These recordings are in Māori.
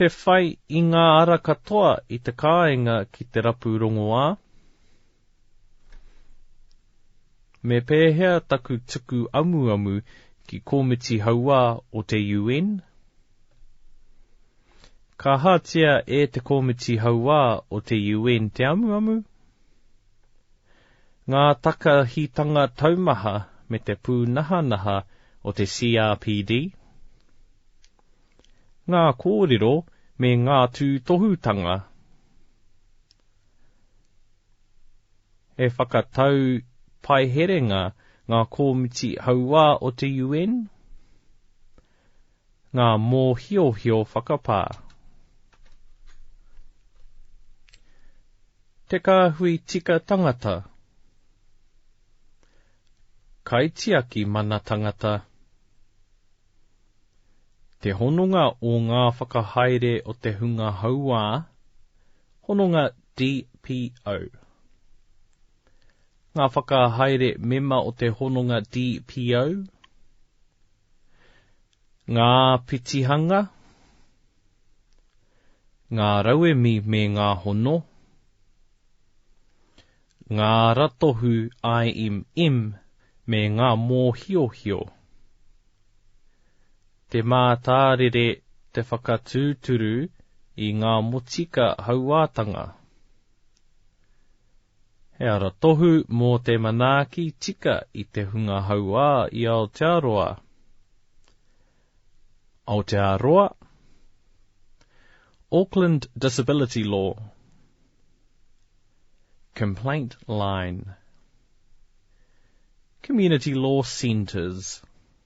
Te whai i ngā ara katoa i te kāinga ki te rapu rongoā. Me pēhea taku tuku amuamu ki Komiti Hauā o te UN? Ka hatia e te Komiti Hauā o te UN te amuamu? Ngā takahitanga taumaha me te pūnahanaha o te CRPD Ngā kōrero me ngā tūtohutanga He whakatau paiherenga ngā kōmiti hauā o te UN Ngā mōhiohio whakapā Te kāhui tika tangata Kaitiaki mana tangata Te hononga o ngā whakahaere o te hunga hauā Hononga DPO Ngā whakahaere mema o te hononga DPO Ngā petihanga, ngā rauemi me ngā hono, ngā ratohu IMM me ngā mōhiohio, te mātārere te whakatūturu i ngā motika hauātanga, He aratohu mō te manaaki tika i te hunga hauā i Aotearoa. Aotearoa, Auckland Disability Law Complaint Line Community Law Centres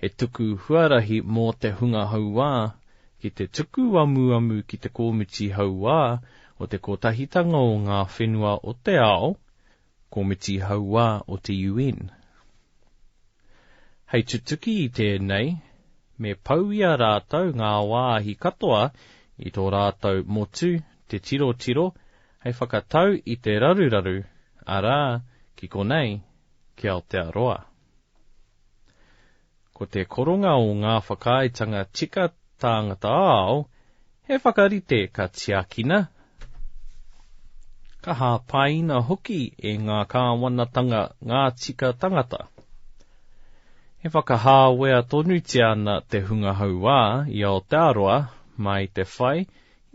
He tuku huarahi mō te hunga hauā ki te tuku amuamu ki te Komiti Hauā o te Kotahitanga o Ngā Whenua o te Ao, Komiti Hauā o te UN. Hei tutuki i tēnei, me pau i a rātou ngā wāhi katoa i tō rātou motu te tirotiro hei whakatau i te raruraru, arā, ki konei, ki Aotearoa. Ko te koronga o ngā whakaaetanga tika tāngata ao, he whakarite ka tiakina, ka hāpaina hoki e ngā kāwanatanga ngā tika tangata. E whakahāwea tonutia ana te hunga hauā i Aotearoa mā i te whai i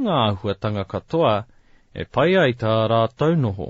ngā āhuatanga katoa e pai ai tā rātou noho.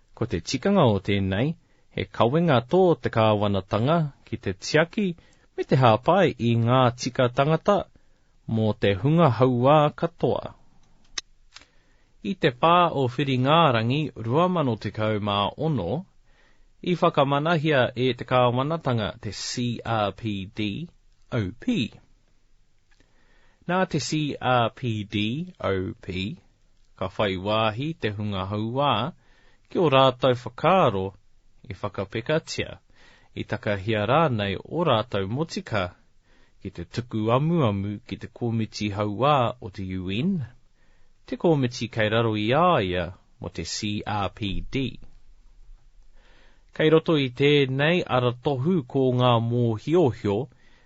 Ko te tikanga o tēnei, he kawenga tō te kāwanatanga ki te tiaki me te hāpai i ngā tika tangata mō te hunga hauā katoa. I te 4 o Whiringārangi 2016, i whakamanahia e te kāwanatanga te CRPD, OP. Nā te CRPDOP, ka whai wāhi te hunga hauā ki ō rātou whakaaro i whakapekatia, i takahia rānei ō rātou motika ki te tuku amuamu ki te komiti hauā o te UN, te komiti kei raro i a ia mō te CRPD. Kei roto i tēnei aratohu ko ngā mōhiohio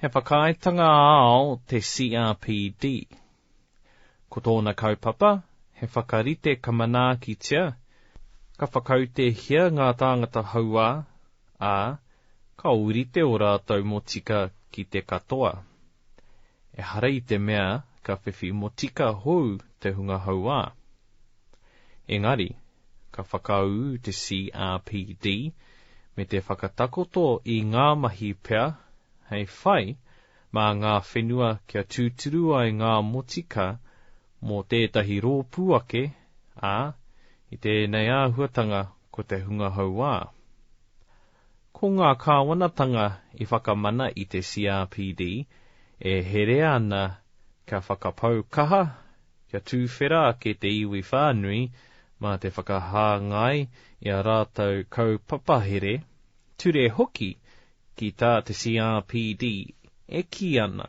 He whakaaetanga ao te CRPD. Ko tōna kaupapa, he whakarite ka manaakitia, ka whakautehia ngā tāngata hauā, ā, ka ōrite ō rātou motika ki te katoa. Ehara i te mea ka whiwhi motika hou te hunga hauā. Engari, ka whakaū te CRPD me te whakatakoto i ngā mahi pea hei whai mā ngā whenua kia tūturu ai ngā motika mō tētahi rōpū ake, ā, i tēnei āhuatanga ko te hunga hauā. Ko ngā kāwanatanga i whakamana i te CRPD e herea ana kia whakapau kaha, kia tūwhera ake te iwi whānui mā te whakahāngai i a rātou kaupapahere, ture hoki ki tā te CRPD e kī ana.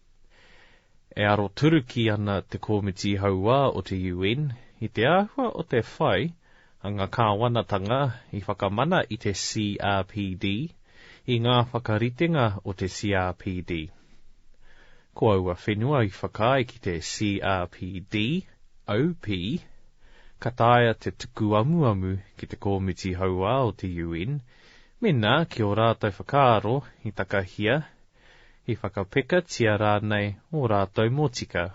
E aroturuki ana te Komiti Hauā o te UN i te āhua o te whai a ngā kāwanatanga i whakamana i te CRPD i ngā whakaritenga o te CRPD. Ko aua whenua i whakaae ki te CRPD, OP, ka taea te tuku amuamu ki te Komiti Hauā o te UN mēnā ki ō rātou whakaaro i takahia I whakapekatia rānei ō rātou motika?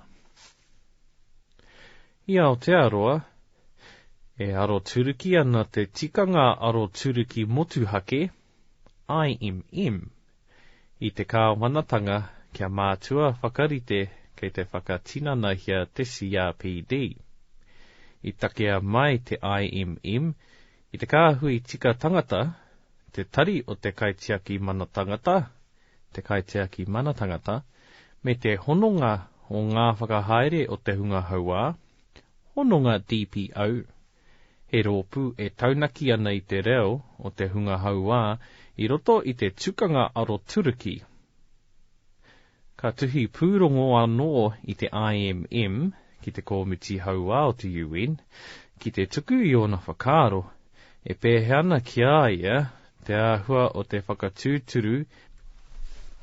I Aotearoa, e aroturuki ana te Tikanga Aroturuki Motuhake, IMM, i te Kāwanatanga kia mātua whakarite kei te whakatinanahia te CRPD. I takea mai te IMM I te kāhui tika tangata, te tari o te kaitiaki mana tangata, te kaitiaki mana tangata, me te hononga o ngā whakahaere o te hunga hauā, hononga DPO, he rōpū e taunaki ana i te reo o te hunga hauā i roto i te tukanga aroturuki. Ka tuhi pūrongo anō i te IMM ki te Kōmiti Hauā o te UN ki te tuku i ōna whakaaro e pēhea ana ki a ia te āhua o te whakatūturu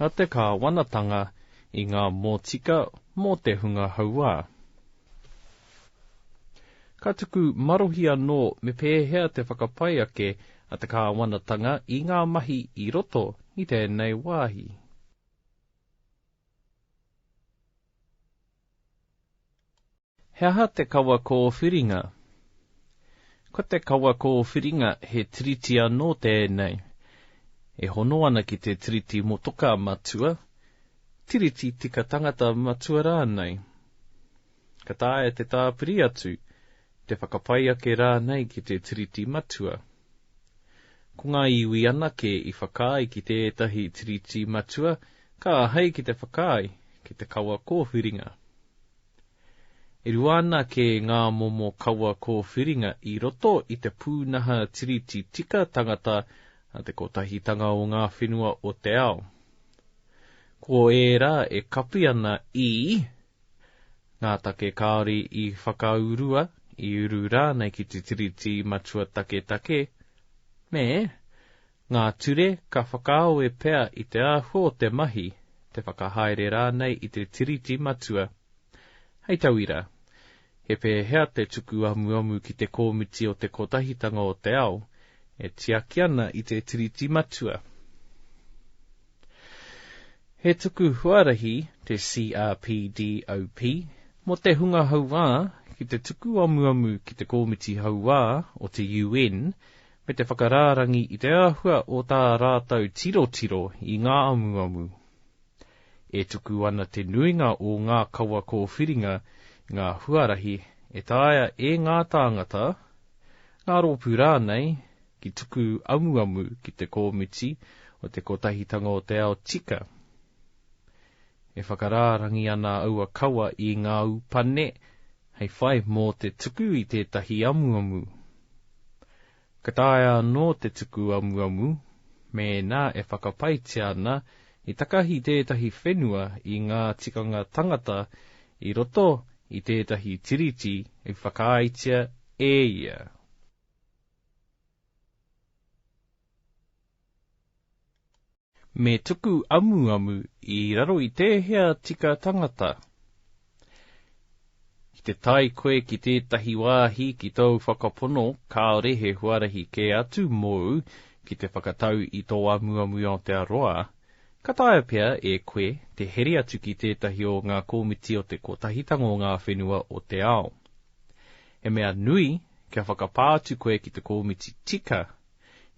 a te kāwanatanga i ngā mōtika mō te hunga hauā. Ka tuku marohi anō me pēhea te whakapai ake a te kāwanatanga i ngā mahi i roto i tēnei wāhi. He aha te kawa kōwhiringa? Ko te kawa kōwhiringa he tiriti anō tēnei e hono ana ki te Tiriti Motoka Matua, Tiriti Tika Tangata Matua rānei. Ka taea te tāpiri atu, te whakapai ake rānei ki te Tiriti Matua. Ko ngā iwi anake i whakaae ki tētahi Tiriti matua ka āhei ki te whakaae ki te kawa kōwhiringa. E rua ana kē ngā momo kawa kōwhiringa i roto i te pūnaha Tiriti tika tangata a te Kotahitanga o Ngā Whenua o te Ao. Ko ērā e kapi ana i. Ngā take kāore i whakaurua, i uru rānei ki te Tiriti Matua Taketake, me ngā ture ka whakaawe pea i te āhua o te mahi, te whakahaere rānei i te Tiriti Matua. Hei tauira, He pēhea te tuku amuamu ki te kōmiti o te Kotahitanga o te Ao e tiaki ana i te Tiriti Matua? He tuku huarahi te CRPDOP mō te hunga hauā ki te tuku amuamu ki te kōmiti hauā o te UN me te whakarārangi i te āhua o tā rātou tirotiro i ngā amuamu. E tuku ana te nuinga o ngā kawa kōwhiringa i ngā huarahi e taea e ngā tāngata, ngā rōpū rānei, ki tuku amuamu ki te Kōmiti o te Kotahitanga o te Ao tika. E whakarārangi ana aua kawa i ngā upane hei whai mō te tuku i tētahi amuamu. Ka taea anō te tuku amuamu mēnā e whakapaetia ana i takahi tētahi whenua i ngā tikanga tangata i roto i tētahi tiriti i whakaaetia e ia. Me tuku amuamu i raro i tēhea tika tangata. Ki te tae koe ki tētahi wāhi ki tōu whakapono, kāore he huarahi kē atu mōu ki te whakatau i tō amuamu i Aotearoa, ka taea pea e koe te here atu ki tētahi o ngā komiti o te Kotahitanga o Ngā Whenua o te Ao. He mea nui kia whakapā atu koe ki te komiti tika,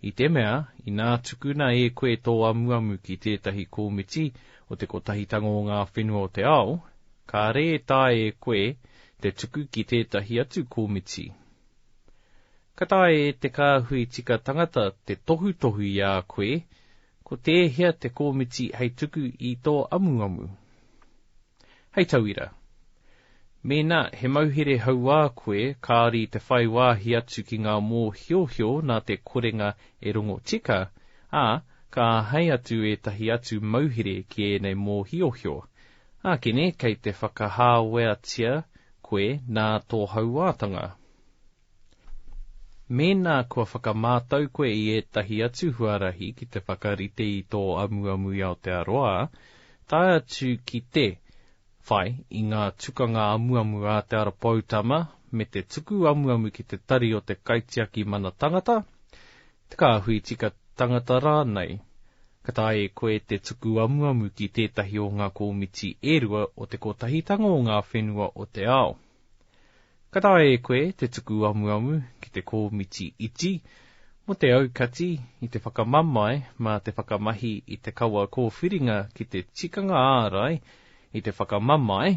I te mea, inā tukuna e koe tō amuamu ki tētahi kōmiti o te Kotahitanga o Ngā Whenua o te Ao, kāre e taea e koe te tuku ki tētahi atu kōmiti. Ka taea e te kāhui tika tangata te tohutohu i a koe Ko tēhea te kōmiti hei tuku i tō amuamu? Hei tauira, mēnā he mauhere hauā koe kāore i te whai wāhi atu ki ngā mōhiohio nā te korenga e rongo tika, ā, ka āhei atu ētahi atu mauhere ki ēnei mōhiohio, ākene kei te whakahāweatia koe nā tō hauātanga. Mēnā kua whakamātau koe i ētahi atu huarahi ki te whakarite i tō amuamu i Aotearoa, tae atu ki te whai i ngā tukanga amuamu a Te Ara Poutama me te tuku amuamu ki te tari o te Kaitiaki Mana Tangata, te Kāhui Tika Tangata rānei, ka taea e koe te tuku amuamu ki tētahi o ngā komiti e rua o te Kotahitanga o ngā Whenua o te Ao. Ka taea e koe te tuku amuamu ki te kōmiti iti mō te aukati i te whakamamae mā te whakamahi i te kawa kōwhiringa ki te tikanga ārai i te whakamamae,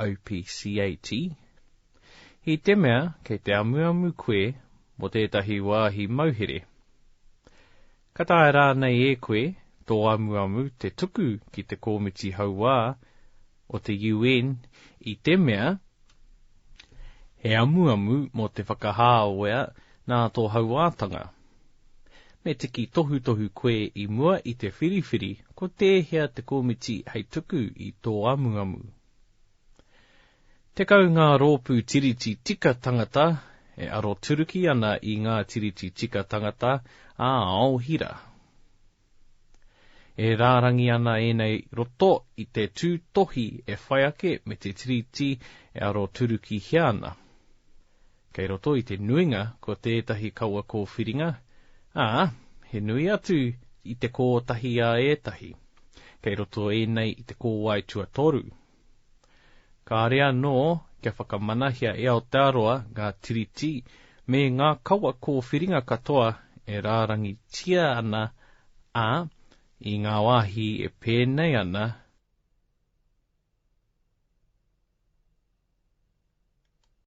OPCAT. I te mea kei te amuamu koe mō tētahi wāhi mauhere, Ka taea rānei e koe tō amuamu te tuku ki te Kōmiti Hauā o te UN i te mea he amuamu mō te whakahāwea nā tō hauātanga? Me tiki tohutohu koe i mua i te whiriwhiri ko tēhea te kōmiti hei tuku i tō amuamu? Tekau ngā rōpū Tiriti Tika Tangata e aroturuki ana i ngā Tiriti Tika Tangata ā ao hira. E rārangi ana ēnei roto i te tūtohi e whai ake me te Tiriti e aroturukihia ana. Kei roto i te nuinga ko tētahi kawa kōwhiringa, ā, he nui atu i te kōtahi a ētahi. Kei roto ēnei i te kōwae tuatoru. Kāre anō kia whakamanahia e Aotearoa ngā tiriti me ngā kawa kōwhiringa katoa e rārangitia ana, ā, i ngā wāhi e pēnei ana,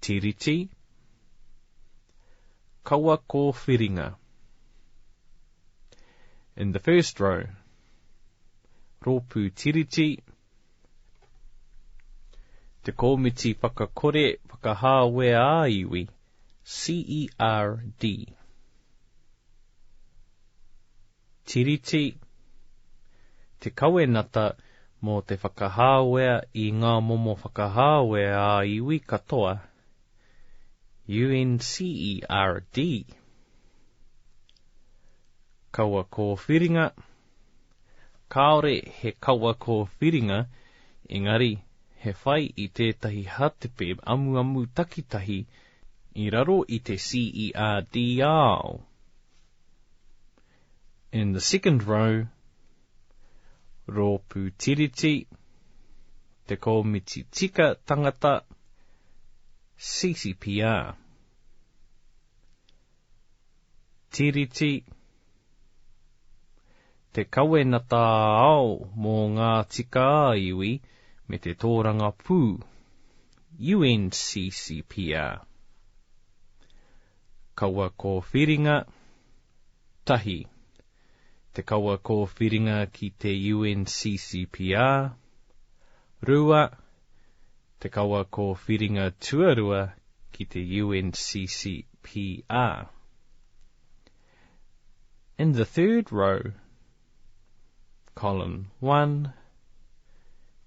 Tiriti, Kawa Kōwhiringa. In the first row, Rōpū Tiriti, Te Kōmiti Whakakore Whakahāwea ā-Iwi, CERD. Tiriti, te kawenata mō te whakahāwea i ngā momo whakahāwea ā-iwi katoa, UNCERD. Kawa kōwhiringa, kāore he kawa kōwhiringa, engari he whai i tētahi hātepe amuamu takitahi i raro i te CERD ao. In the second row, Rōpū Tiriti, Te Kōmiti Tika Tangata, CCPR. Tiriti, Te Kawenata Ao mō ngā Tika-a-Iwi me te Tōrangapū. UNCCPR. Kawa Kōwhiringa, Tahi, te kawa kōwhiringa ki te UNCCPR, Rua, te kawa kōwhiringa tuarua ki te UNCCPR. In the third row, Column 1,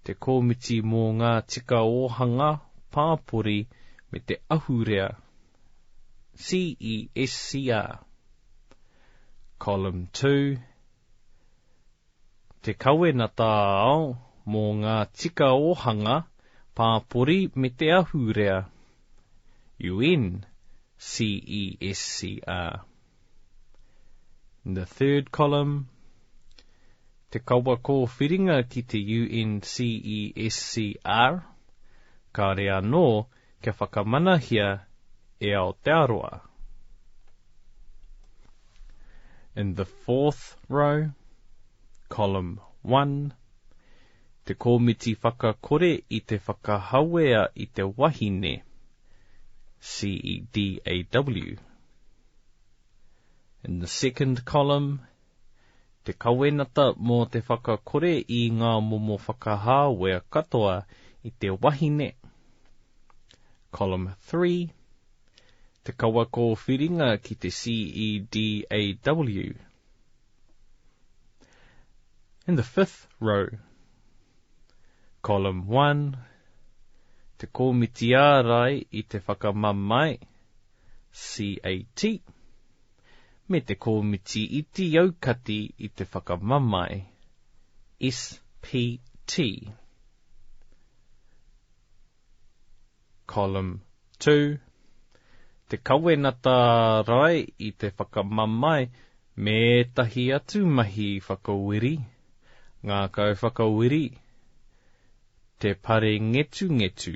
Te Kōmiti mō ngā Tika Ōhanga, Pāpori me te Ahurea, CESCR. Column 2, Te Kawenata ā-Ao mō ngā Tika Ōhanga, Pāpori me te Ahurea, UNCESCR. In the third column, te kawa kōwhiringa ki te UNCESCR, kāore anō kia whakamanahia e Aotearoa. In the fourth row, column one, te kōmiti whakakore i te whakahawea i te wahine, CEDAW. In the second column, te kawenata mō te whakakore i ngā momo whakahāwea katoa i te wahine, Column 3, te kawa kōwhiringa ki te CEDAW. In the fifth row, Column 1, te kōmiti ārai i te whakamamae, CAT, me te Kōmiti Iti Aukati i te Whakamamae, SPT, Column 2, te Kawenata Rae i te Whakamamae me ētahi atu mahi whakawiri, ngākau whakawiri, te parengetungetu,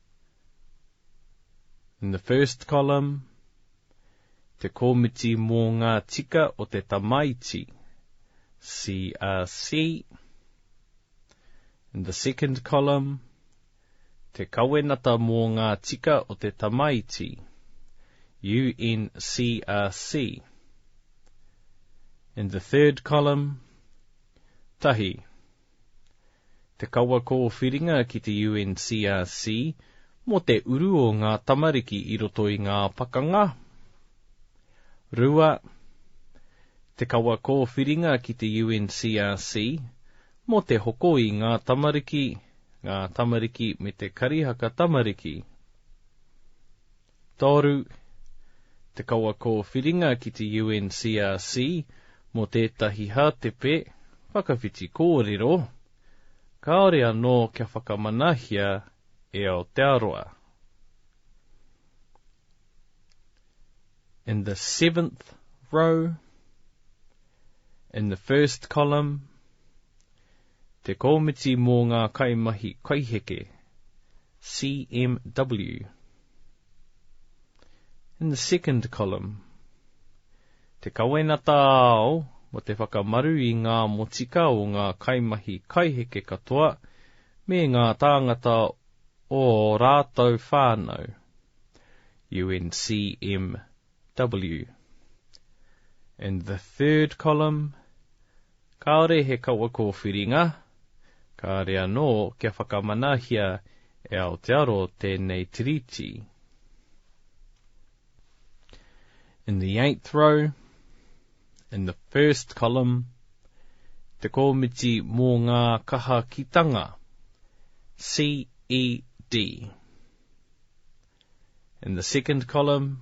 In the first column, te komiti mō ngā tika o te tamaiti, CRC. In the second column, te kawenata mō ngā tika o te tamaiti, UNCRC. In the third column, tahi. Te kawa kōwhiringa ki te UNCRC mō te uru o ngā tamariki i roto i ngā pakanga. 2. Te kawa kōwhiringa ki te UNCRC mō te hoko i ngā tamariki, ngā tamariki me te karihaka tamariki. Toru, te kawa kōwhiringa ki te UNCRC mō tētahi hātepe whakawhiti kōrero, kāore anō kia whakamanahia e Aotearoa. In the seventh row, in the first column, Te Komiti mō ngā Kaimahi Kaiheke, CMW. In the second column, Te Kawenata Ao mō te whakamaru i ngā motika o ngā kaimahi kaiheke katoa me ngā tāngata o ō rātou whānau, UNCMW. W. In the third column, kāore he kawa kōwhiringa, kāore anō kia whakamanahia e Aotearo tēnei tiriti. In the eighth row, in the first column, te kōmiti mō ngā kahakitanga, CED. In the second column,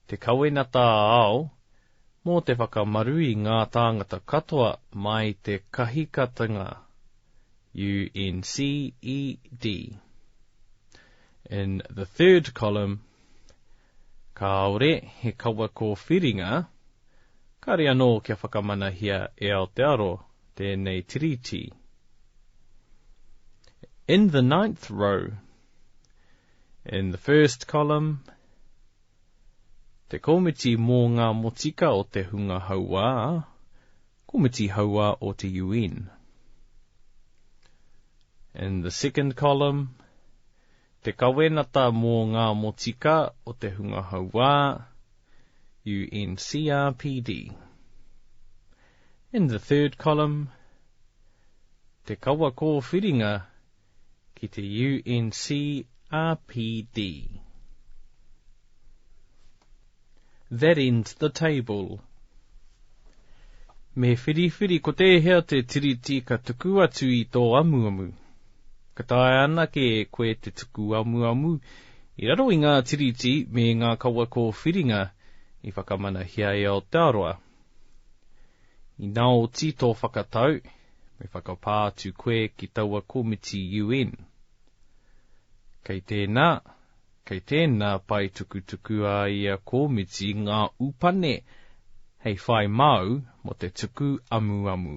te kawenata ā-ao mō te whakamaru i ngā tāngata katoa mai te kahikatenga UNCED. In the third column, kāore he kawa kōwhiringa, kāore anō kia whakamanahia e Aotearo tēnei tiriti. In the ninth row, In the first column, te komiti mō ngā motika o te hunga hauā, komiti hauā o te UN. In the second column, te kawenata mō ngā motika o te hunga hauā, UNCRPD. In the third column, te kawa kōwhiringa ki te UNCRPD. That ends the table. Me whiriwhiri ko tēhea te tiriti ka tuku atu i tō amuamu. Ka taea anake e koe te tuku amuamu i raro i ngā tiriti me ngā kawa kōwhiringa i whakamanahia e Aotearoa. Ina oti tō whakatau, me whakapā atu koe ki taua komiti UN. Kei tēnā, kei tēnā pae tukutuku a ia komiti ngā upane hei whai māu mō te tuku amuamu.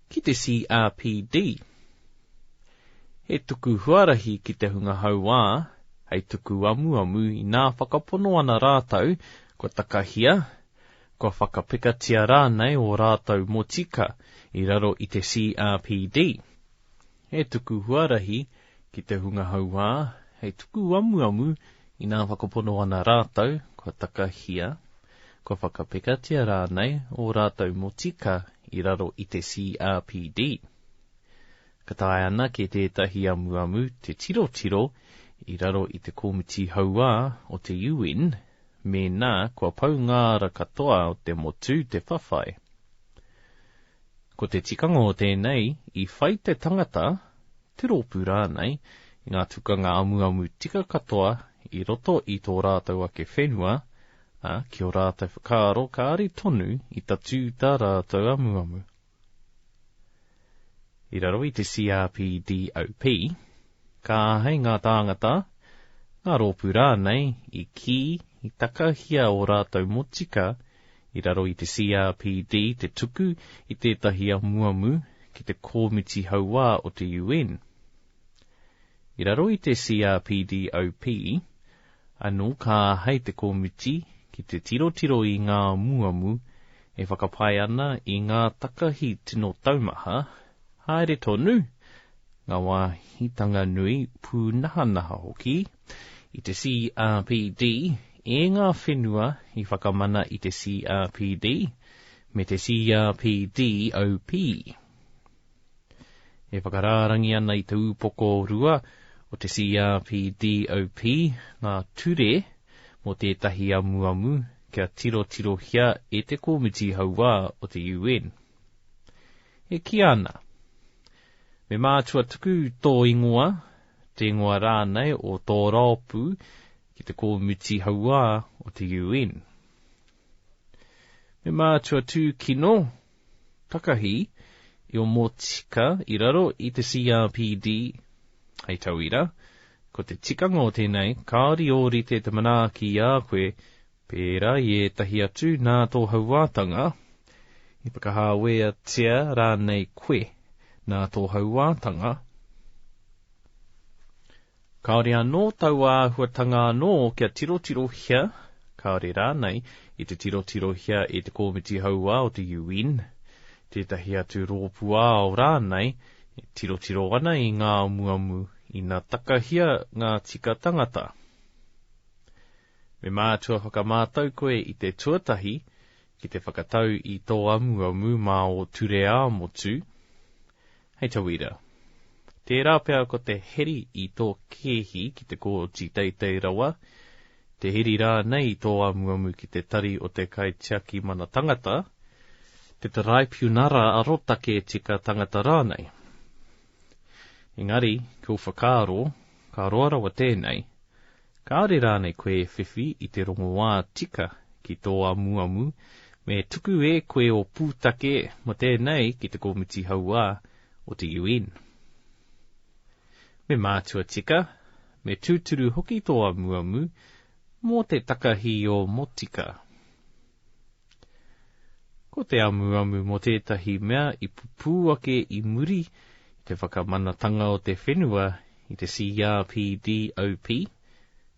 Ki te CRPD, he tuku huarahi ki te hunga hauā hei tuku amuamu inā whakapono ana rātou kua takahia, kua whakapekatia rānei ō rātou motika i raro i te CRPD. He tuku huarahi ki te hunga hauā hei tuku amuamu inā whakapono ana rātou kua takahia, Kua whakapekatia rānei ō rātou motika i raro i te CRPD. Ka taea anake tētahi amuamu te tirotiro i raro i te Komiti Hauā o te UN mēnā kua pau ngā ara katoa o te motu te whawhai. Ko te tikanga o tēnei, i whai te tangata, te rōpū rānei, i ngā tukanga amuamu tika katoa i roto i tō rātou ake whenua, Ā, ki ō rātou whakaaro kāri tonu i tatū tā rātou amuamu. I raro i te CRPDOP, ka āhei ngā tāngata, ngā rōpū rānei i kī i takahia ō rātou motika i raro i te CRPD te tuku i tētahi amuamu ki te Kōmiti Hauā o te UN. I raro i te CRPDOP, Anō ka āhei te komiti ki te tirotiro i ngā amuamu e whakapae ana i ngā takahi tino taumaha, haere tonu, ngā wāhitanga nui, pūnahanaha hoki, i te CRPD, e ngā whenua i whakamana i te CRPD, me te CRPD OP. E whakarārangi ana i te upoko rua o te CRPDOP ngā ture mō tētahi amuamu kia tirotirohia e te Komiti Hauā o te UN. E kīa ana, Me mātua tuku tō ingoa, te ingoa rānei o tō rōpū ki te Komiti Hauā o te UN. Me mātua tūkino Takahi i o Motika i raro i te CRPD. Hei tauira, ko te tikanga o tēnei, kāore i ōrite te manaaki i a koe, pērā i ētahi atu nā tō hauātanga, i whakahāweatia rānei koe nā tō hauātanga, Kāore anō taua āhuatanga anō kia tirotirohia, kāore rānei i te tirotirohia e te Kōmiti Hauā o te UN, tētahi atu rōpū ao rānei e tirotiro ana i ngā amuamu ina takahia ngā tika tangata. Me mātua whakamātau koe i te tuatahi ki te whakatau i tō amuamu mā ō ture ā-motu, Hei tauira. Tērā pea ko te heri i tō kēhi ki te kōti teitei rawa, te heri rānei i tō amuamu ki te tari o te kaitiaki mana tangata, te taraipiunara arotake tika tangata rānei. Engari, kua whakaaro, ka roa rawa tēnei, Kāore rānei koe e whiwhi i te rongoā tika ki tō amuamu, me tuku e koe ō pūtake mō tēnei ki te komiti hauā o te UN. Me mātua tika, me tūturu hoki tō amuamu mō te takahī o Motika. Ko te amuamu mō tētahi mea i pupū ake i muri i te whakamanatanga o te whenua i te CRPDOP,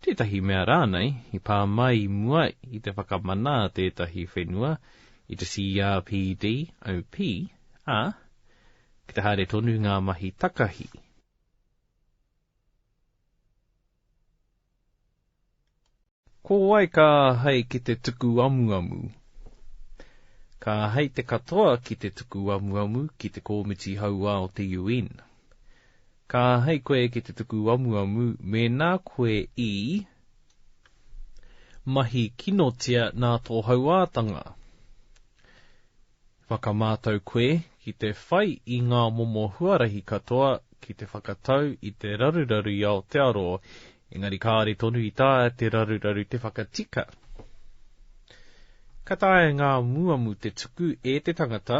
tētahi mea rānei i pā mai i mua i te whakamana a tētahi whenua i te CRPDOP, ā, ki te haere tonu ngā mahi takahi. Ko wai ka āhei ki te tuku amuamu? Ka āhei te katoa ki te tuku amuamu ki te Kōmiti Hauā o te UN. Ka āhei koe ki te tuku amuamu mēnā koe i mahi kinotia nā tō hauātanga. Whakamātau koe ki te whai i ngā momo huarahi katoa ki te whakatau i te raruraru i Aotearoa, engari kāore tonu i taea te raruraru te whakatika. Ka taea ngā muamu te tuku e te tangata,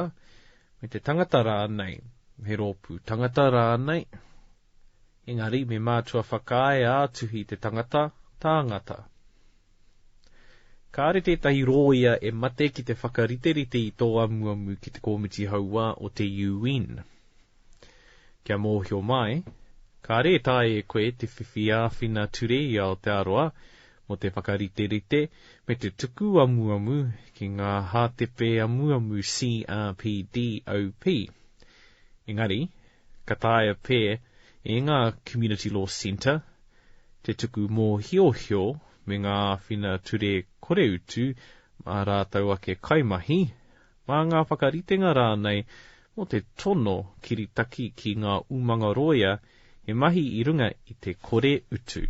me te tangata rānei, me rōpū tangata rānei, engari me mātua whakaae ā-tuhi te tangata, tāngata. Kāore tētahi rōia e mate ki te whakariterite i tō amuamu ki te Komiti Hauā o te UN. Kia mōhio mai, kāore e taea e koe te whiwhi āwhina ture i Aotearoa mō te whakariterite me te tuku amuamu ki ngā hātepe amuamu CRPD OP. Engari, ka taea pea e ngā Community Law Centre te tuku mōhiohio me ngā āwhina ture koreutu mā rātou ake kaimahi, mā ngā whakaritenga rānei mō te tono kiritaki ki ngā umanga rōia he mahi i runga i te kore utu.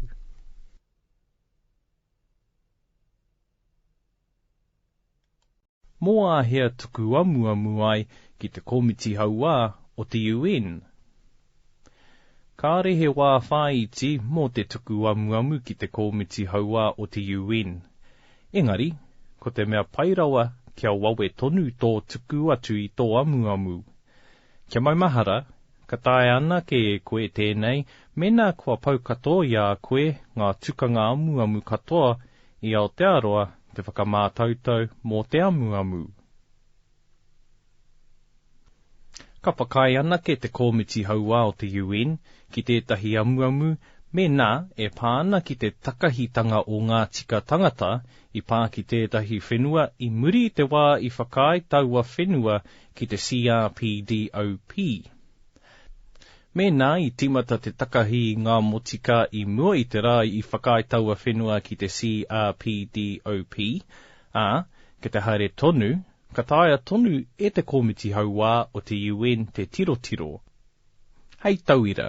Mō āhea tuku amuamu ai ki te komiti hauā o te UN? Kāore he wā whāiti mō te tuku amuamu ki te komiti hauā o te UN. Engari, ko te mea pai rawa kia wawe tonu tō tuku atu i tō amuamu. Kia maumahara, ka taea anake e koe tēnei mēnā kua pau katoa i a koe ngā tukanga amuamu katoa i Aotearoa te whakamātautau mō te amuamu. Ka whakaae anake te Kōmiti Hauā o te UN ki tētahi amuamu mēnā e pā ana ki te takahitanga o ngā tika tangata i pā ki tētahi whenua i muri i te wā i whakaae taua whenua ki te CRPDOP. Mēnā i tīmata te takahi i ngā motika i mua i te rā i whakaae taua whenua ki te CRPDOP, ā, ki te haere tonu, ka taea tonu e te Kōmiti Hauā o te UN te tirotiro, Hei tauira,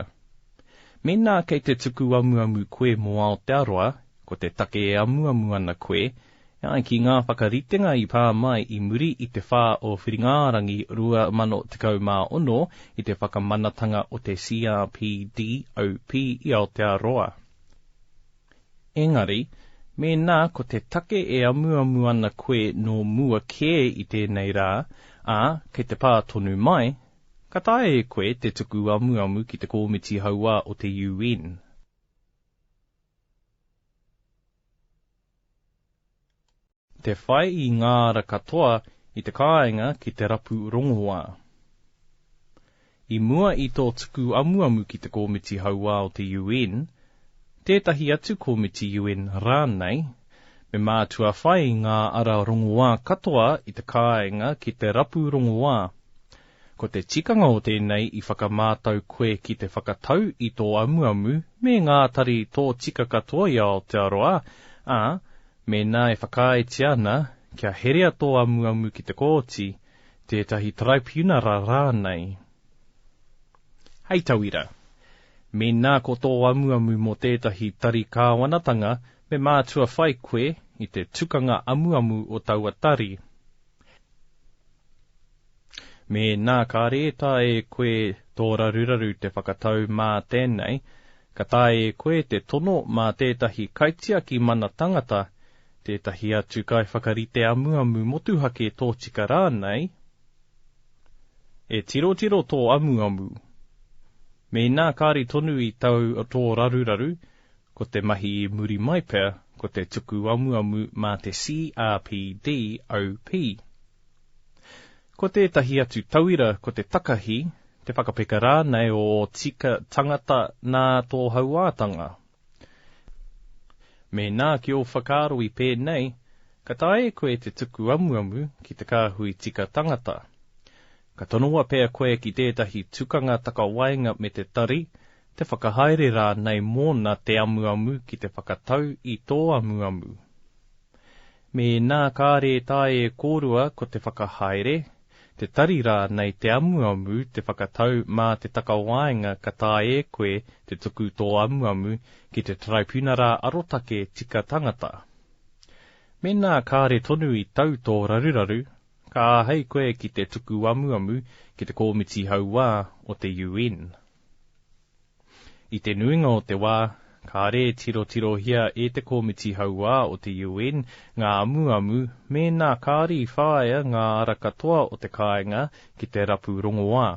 mēnā kei te tuku amuamu koe mō Aotearoa, ko te take e amuamu ana koe, e ai ki ngā whakaritenga i pā mai i muri i te 4 o Whiringa-ā-rangi 2016 i te whakamanatanga o te CRPDOP i Aotearoa. Engari, mēnā ko te take e amuamu ana koe nō mua kē i tēnei rā, ā, kei te pā tonu mai, Ka taea e koe te tuku amuamu ki te Kōmiti Hauā o te UN. Te whai i ngā ara katoa i te kāinga ki te rapu rongoā. I mua i tō tuku amuamu ki te Kōmiti Hauā o te UN, tētahi atu kōmiti UN rānei, Me mātua whai ngā ara rongoā katoa i te kāinga ki te rapu rongoā. Ko te tikanga o tēnei i whakamātau koe ki te whakatau i tō amuamu me ngā tari tōtika katoa i Aotearoa, ā, mēnā e whakaaetia ana kia herea tō amuamu ki te kōti, tētahi taraipiunara rānei. Hei tauira, mēnā ko tō amuamu mō tētahi tari kāwanatanga Me mātua whai koe i te tukanga amuamu o taua tari. Mēnā ka rētā e koe tō raruraru te whakatau mā tēnei, ka taea e koe te tono mā tētahi kaitiaki mana tangata, tētahi atu kaiwhakarite amuamu motuhake tōtika rānei, e tirotiro tō amuamu. Mēnā kāre tonu i tau tō raruraru, Ko te mahi i muri mai pea ko te tuku amuamu mā te CRPDOP. Ko tētahi atu tauira ko te takahi, te whakapeka rānei o ō tika tangata nā tō hauātanga. Mēnā ki ō whakaaro i pēnei, ka taea e koe te tuku amuamu ki te kāhui tika tangata. Ka tonoa pea koe ki tētahi tukanga takawaenga me te tari, te whakahaere rānei mōna te amuamu ki te whakatau i tō amuamu. Mēnā kāre e taea e kōrua ko te whakahaere, te tari rānei te amuamu te whakatau mā te takawaenga ka taea e koe te tuku tō amuamu ki te Taraipiunara Arotake Tika Tangata. Mēnā kāre tonu i tau tō raruraru, ka āhei koe ki te tuku amuamu ki te Kōmiti Hauā o te UN. I te nuinga o te wā, kāre e tirotirohia e te Komiti Hauā o te UN ngā amuamu mēnā kāre i whāia ngā ara katoa o te kāinga ki te rapu rongoā.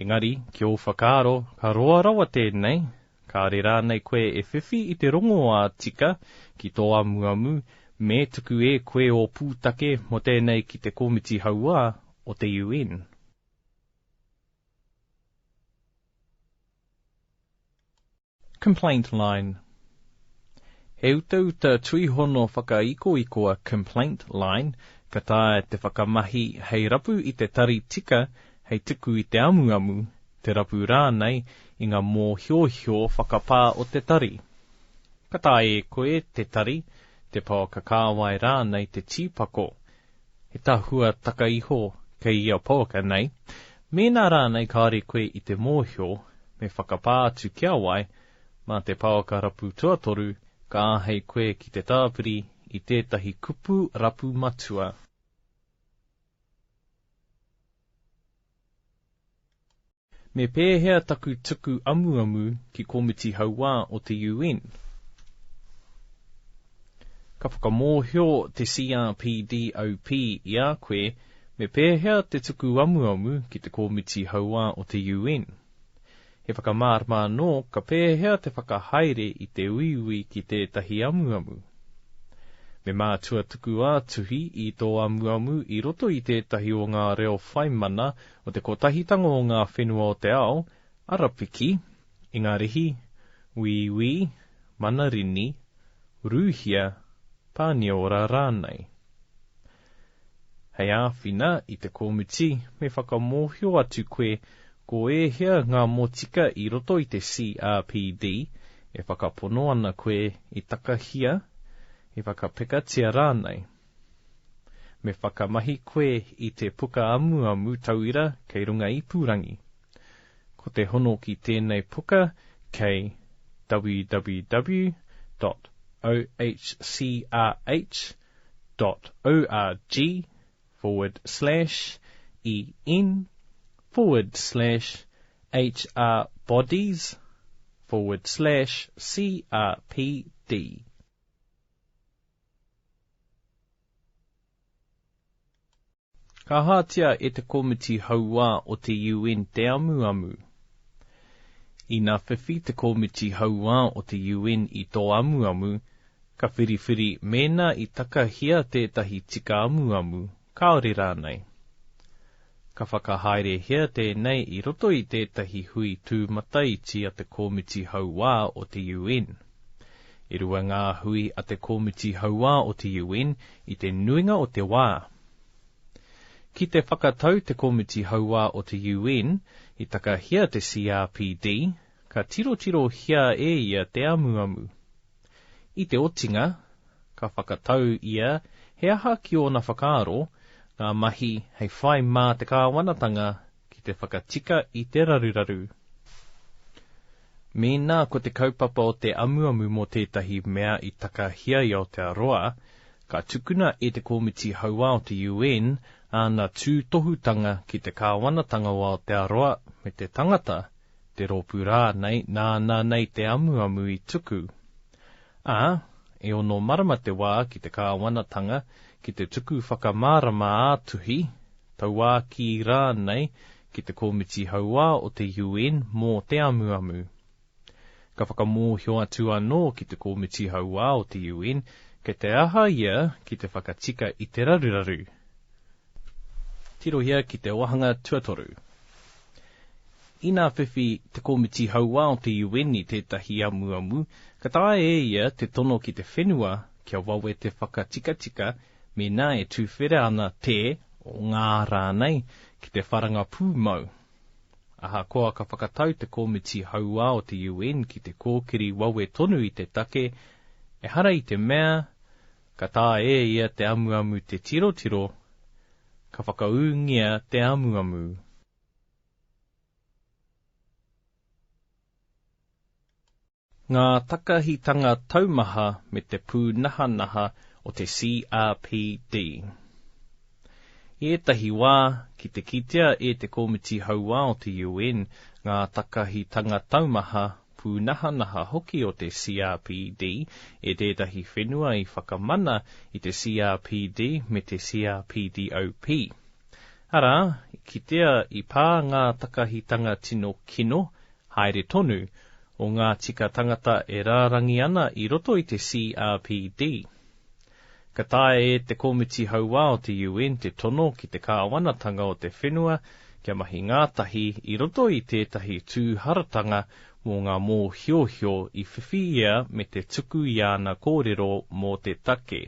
Engari, ki ō whakaaro, ka roa rawa tēnei, kāre rānei koe e whiwhi i te rongoā tika ki tō amuamu me tuku e koe ō pūtake mō tēnei ki te Komiti Hauā o te UN? Complaint Line He utauta tuihono whakaikoikoa Complaint Line ka taea te whakamahi hei rapu i te tari tika hei tuku i te amuamu, te rapu rānei i ngā mōhiohio whakapā o te tari. Ka taea e koe te tari, te pouaka kāwai rānei te tīpako. He tahua taka iho kei ia pouaka nei. Mēnā rānei kāore koe i te mōhio, me whakapā atu ki a wai, mā te pouaka rapu tuatoru ka āhei koe ki te tāpiri i tētahi kupu rapu matua. Me pēhea taku tuku amuamu ki Komiti Hauā o te UN? Ka whakamōhio te CRPD OP i a koe me pēhea te tuku amuamu ki te Komiti Hauā o te UN. He whakamārama anō ka pēhea te whakahaere i te uiui ki tētahi amuamu. Me mātua tuku ā-tuhi i tō amuamu i roto i tētahi o ngā reo whai mana o te kotahitanga o ngā whenua o te ao, Arapiki, Ingarihi, Wīwī, Manarini, Rūhia, Pāniora rānei. Hei āwhina i te kōmiti, me whakamōhio atu koe ko ēhea ngā motika i roto i te CRPD e whakapono ana koe i takahia, i whakapekatia rānei. Me whakamahi koe i te puka amuamu tauira kei runga ipurangi. Ko te hono ki tēnei puka kei www.hcrh.org/en/hrbodies/crpd. Ka hatia e te Komiti Hauā o te UN te amuamu. Ina whiwhi te Komiti Hauā o te UN i tō amuamu, ka whiriwhiri mēnā i takahia tētahi tika amuamu Kāore rānei. Ka whakahaerehia tēnei i roto i tētahi hui tūmataiti a te Kōmiti Hauā o te UN. E rua ngā hui a te Kōmiti Hauā o te UN i te nuinga o te wā. Ki te whakatau te Kōmiti Hauā o te UN i takahia te CRPD, ka tirotirohia e ia te amuamu. I te otinga, ka whakatau ia he aha ki ōna whakaaro, ngā mahi hei whai mā te kāwanatanga ki te whakatika i te raruraru. Mēnā ko te kaupapa o te amuamu mō tētahi mea i takahia i Aotearoa, ka tukuna e te Komiti Hauā o te UN āna tūtohutanga ki te kāwanatanga o Aotearoa me te tangata, te rōpū rānei nāna nei te amuamu i tuku. Ā, e ono marama te wā ki te kāwanatanga ki te tuku whakamārama ā-tuhi, tauākī rānei ki te Komiti Hauā o te UN mō te amuamu. Ka whakamōhio atu anō ki te Komiti Hauā o te UN kei te aha ia ki te whakatika i te raruraru, Tirohia ki te wāhanga tuatoru. Ina whiwhi te Komiti Hauā o te UN i tētahi amuamu, ka taea e ia te tono ki te whenua kia wawe te whakatikatika mēnā e tuwhera ana te, o ngā rānei, ki te wharanga pūmau. Ahakoa ka whakatau te Komiti Hauā o te UN ki te kōkiri wawe tonu i te take, ehara i te mea Ka taea e ia te amuamu te tirotiro, ka whakaūngia te amuamu. Ngā takahitanga taumaha me te pūnahanaha o te CRPD. I ētahi wā, ki te kitea e te Komiti Hauā o te UN ngā takahitanga taumaha pūnahanaha hoki o te CRPD e tētahi whenua i whakamana i te CRPD me te CRPDOP. Arā, i kitea i pā ngā takahitanga tino kino, haere tonu, o ngā tika tangata e rārangi ana i roto i te CRPD. Ka taea e te Komiti Hauā o te UN te tono ki te Kāwanatanga o te Whenua kia mahi ngātahi i roto i tētahi tūharatanga mō ngā mōhiohio i whiwhi ia me te tuku i āna kōrero mō te take.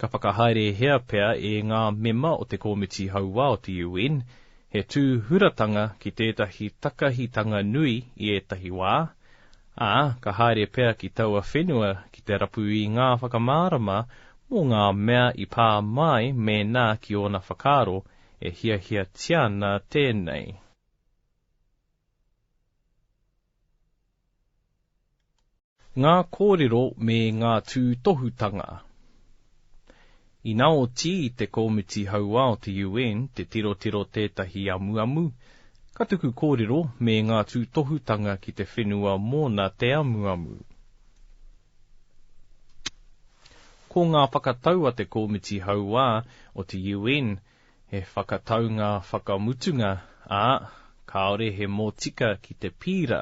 Ka whakahaerehia pea e ngā mema o te Komiti Hauā o te UN he tūhuratanga ki tētahi takahitanga nui i ētahi wā, ā, ka haere pea ki taua whenua ki te rapu i ngā whakamārama mō ngā mea i pā mai mēnā ki ōna whakaaro e hiahiatia ana tēnei. Ngā kōrero me ngā tūtohutanga. Ina oti i te Komiti Hauā o te UN te tirotiro tētahi amuamu, ka tuku kōrero me ngā tūtohutanga ki te whenua mōna te amuamu. Ko ngā whakatau a te Komiti Hauā o te UN he whakataunga whakamutunga, ā, kāore he mōtika ki te pīra.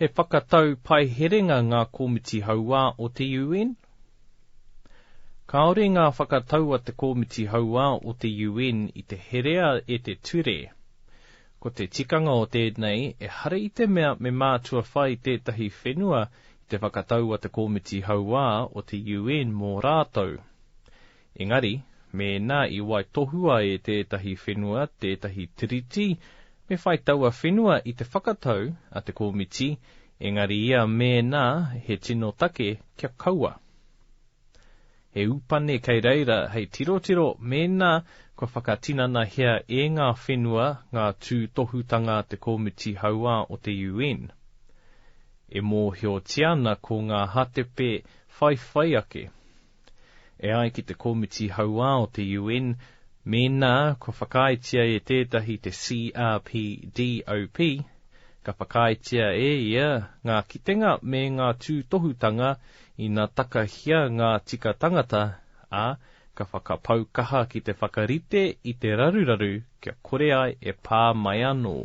He whakatau paiherenga ngā komiti hauā o te UN? Kāore ngā whakatau a te komiti hauā o te UN i te herea e te ture. Ko te tikanga o tēnei, ehara i te mea me mātua whai tētahi whenua i te whakatau a te komiti hauā o te UN mō rātou. Engari, mēnā i waitohua e tētahi whenua tētahi tiriti, me whai taua whenua i te whakatau a te Komiti, engari ia mēnā he tino take kia kaua. He upane kei reira hei tirotiro mēnā kua whakatinanahia e ngā whenua ngā tūtohutanga a te Komiti Hauā o te UN. E mōhiotia ana ko ngā hātepe whaiwhai ake. E ai ki te Komiti Hauā o te UN, mēnā kua whakaaetia e tētahi te CRPDOP, ka whakaaetia e ia ngā kitenga me ngā tūtohutanga ina takahia ngā tika tangata, ā, ka whakapau kaha ki te whakarite i te raruraru kia kore ai e pā mai anō.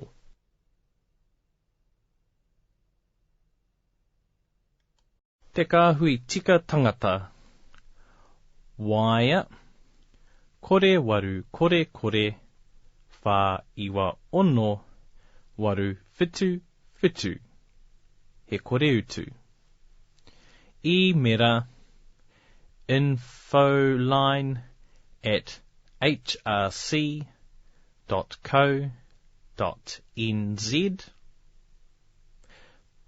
Te Kāhui Tika Tangata Waea Kore Waru Kore Kore Whā Iwa Ono Waru Whitu Whitu He Kore Utu Īmera infoline at hrc dot co dot nz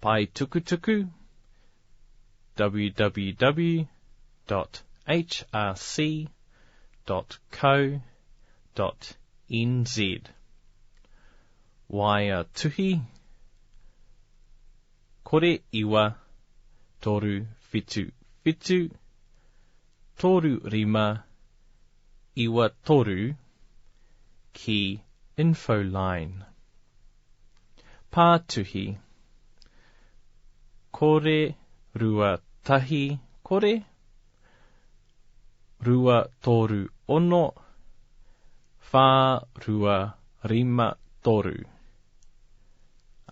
Paetukutuku www.hrc.co.nz Waea tuhi Kore iwa toru whitu whitu Toru rima iwa toru ki Infoline. Pātuhi, kore rua tahi kore, rua toru ono, whā rua rima toru,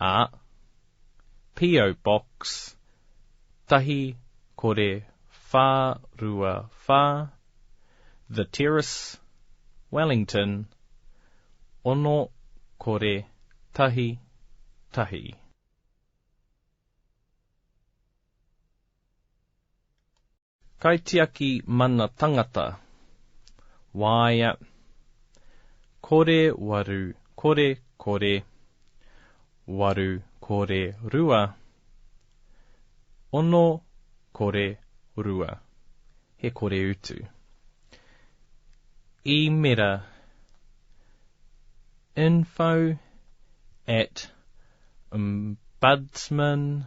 ā, P.O. Box, Tahi Kore Wha Rua Wha, The Terrace, Wellington, Ono Kore Tahi Tahi. Kaitiaki Mana Tangata, Waea, Kore Waru Kore Kore, Waru Kore Rua, Ono Kore Rua, he kore utu. Īmera info at ombudsman.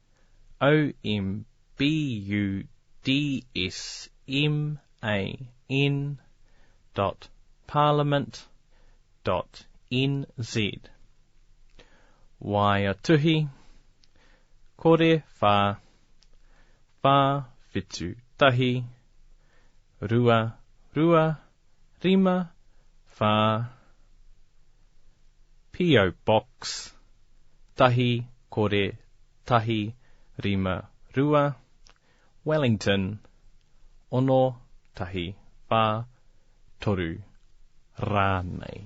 ombudsman.parliament.nz Waea tuhi, kore wha, wha whitu tahi, rua, rua rima, whā, P.O. Box, tahi, kore, tahi, rima, rua, Wellington, ono, tahi, whā, toru, rānei.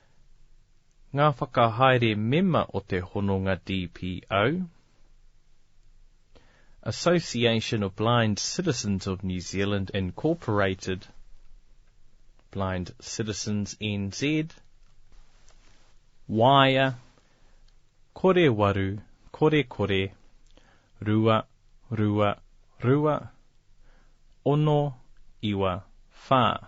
Ngā whakahaere mema o te hononga DPO, Association of Blind Citizens of New Zealand Incorporated, Blind Citizens NZ, Waea, Kore Waru, Kore Kore, Rua, Rua, Rua, Ono, Iwa, Wha.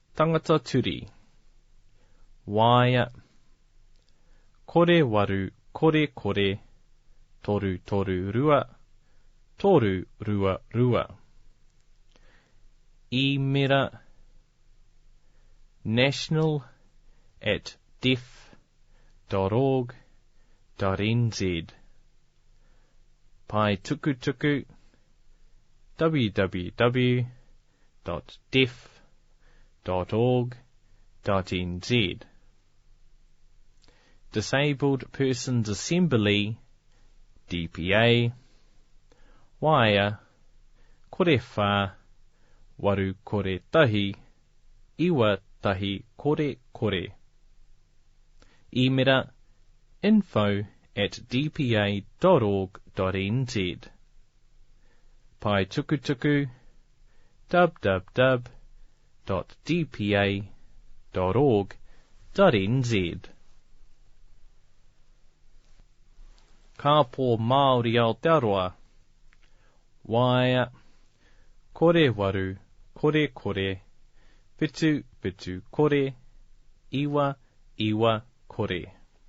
Tangata turi. Waea. Kore waru kore kore toru toru rua toru rua rua. Īmera national at deaf dot org dot nz Paetukutuku www. www.diff.org.nz Disabled Persons Assembly, DPA, Waea, kore whā, waru kore tahi, iwa tahi kore kore. Īmera info at dpa.org.nz paetukutuku www.dpa.org.nz Kāpō Māori Aotearoa Waea Kore Waru Kore Kore Whitu Whitu Kore Iwa Iwa Kore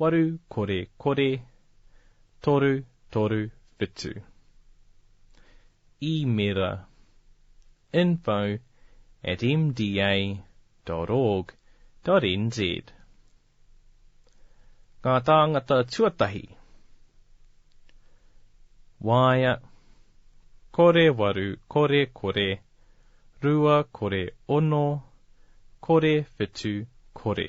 waru kore kore, toru toru whitu. Īmera, info at mda dot org dot nz Ngā tāngata tuatahi Waea, kore waru kore kore, rua kore ono, kore whitu kore.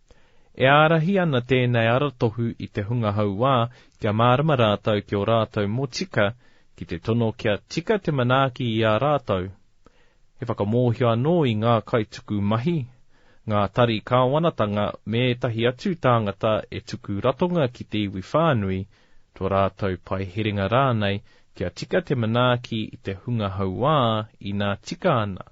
E ārahi ana tēnei aratohu i te hunga hauā kia mārama rātou ki ō rātou motika ki te tono kia tika te manaaki i a rātou. He whakamōhio anō i ngā kaituku mahi, ngā tari kāwanatanga me ētahi atu tāngata e tuku ratonga ki te iwi whānui, tō rātou pae herenga rānei kia tika te manaaki i te hunga hauā inā tika ana.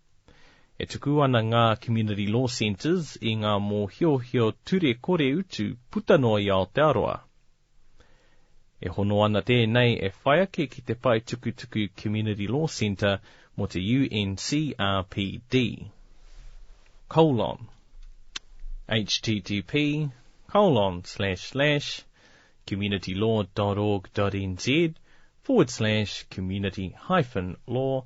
E tuku ana ngā Community Law Centres i ngā mōhiohio ture kore utu puta noa i Aotearoa. E hono ana tēnei e whai ake ki te pae tukutuku Community Law Centre mō te UNCRPD. Colon. http colon slash slash communitylaw.org.nz forward slash community hyphen law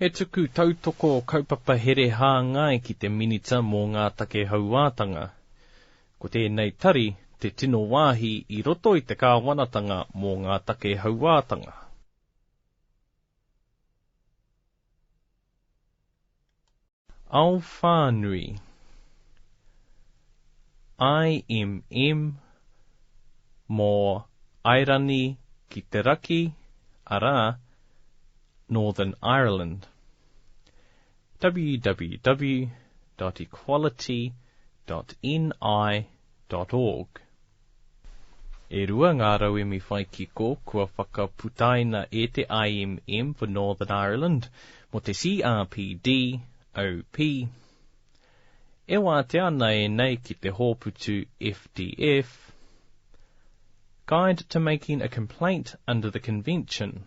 He tuku tautoko kaupapa here hāngai ki te Minita mō ngā Take Hauātanga. Ko tēnei tari te tino wāhi i roto i te Kāwanatanga mō ngā Take Hauātanga. Ao whānui IMM mō Airani ki te Raki, arā, Northern Ireland, www.equality.ni.org. E rua ngā rauemi whai kiko kua whakaputaina e te IMM for Northern Ireland mō te CRPD, OP. E wātea ana ēnei ki te hōputu FDF, Guide to Making a Complaint under the Convention.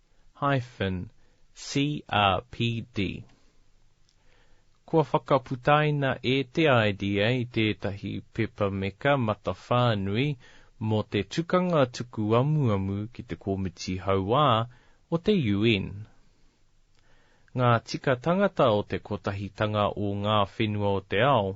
hyphen CRPD. Kua whakaputaina e te IDA tētahi pepa meka matawhānui mō te tukanga tuku amuamu ki te Komiti Hauā o te UN. Ngā Tika Tangata o te Kotahitanga o Ngā Whenua o te Ao,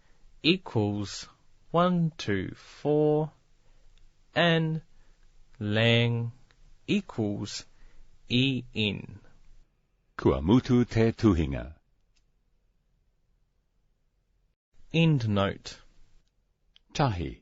equals one two four and lang equals en. Kua mutu te tuhinga. EndNote. Tahi,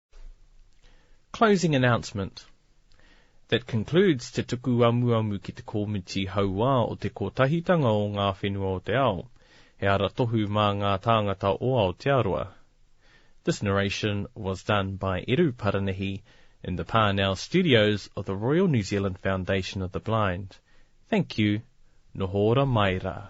Closing announcement That concludes Te Tuku Amuamu ki te Komiti Hauā o Te Kotahitanga o Ngā Whenua o te Ao, he aratohu mā ngā tāngata o Aotearoa. This narration was done by Eru Paranihi in the Parnell Studios of the Royal New Zealand Foundation of the Blind. Thank you. Noho ora mai rā.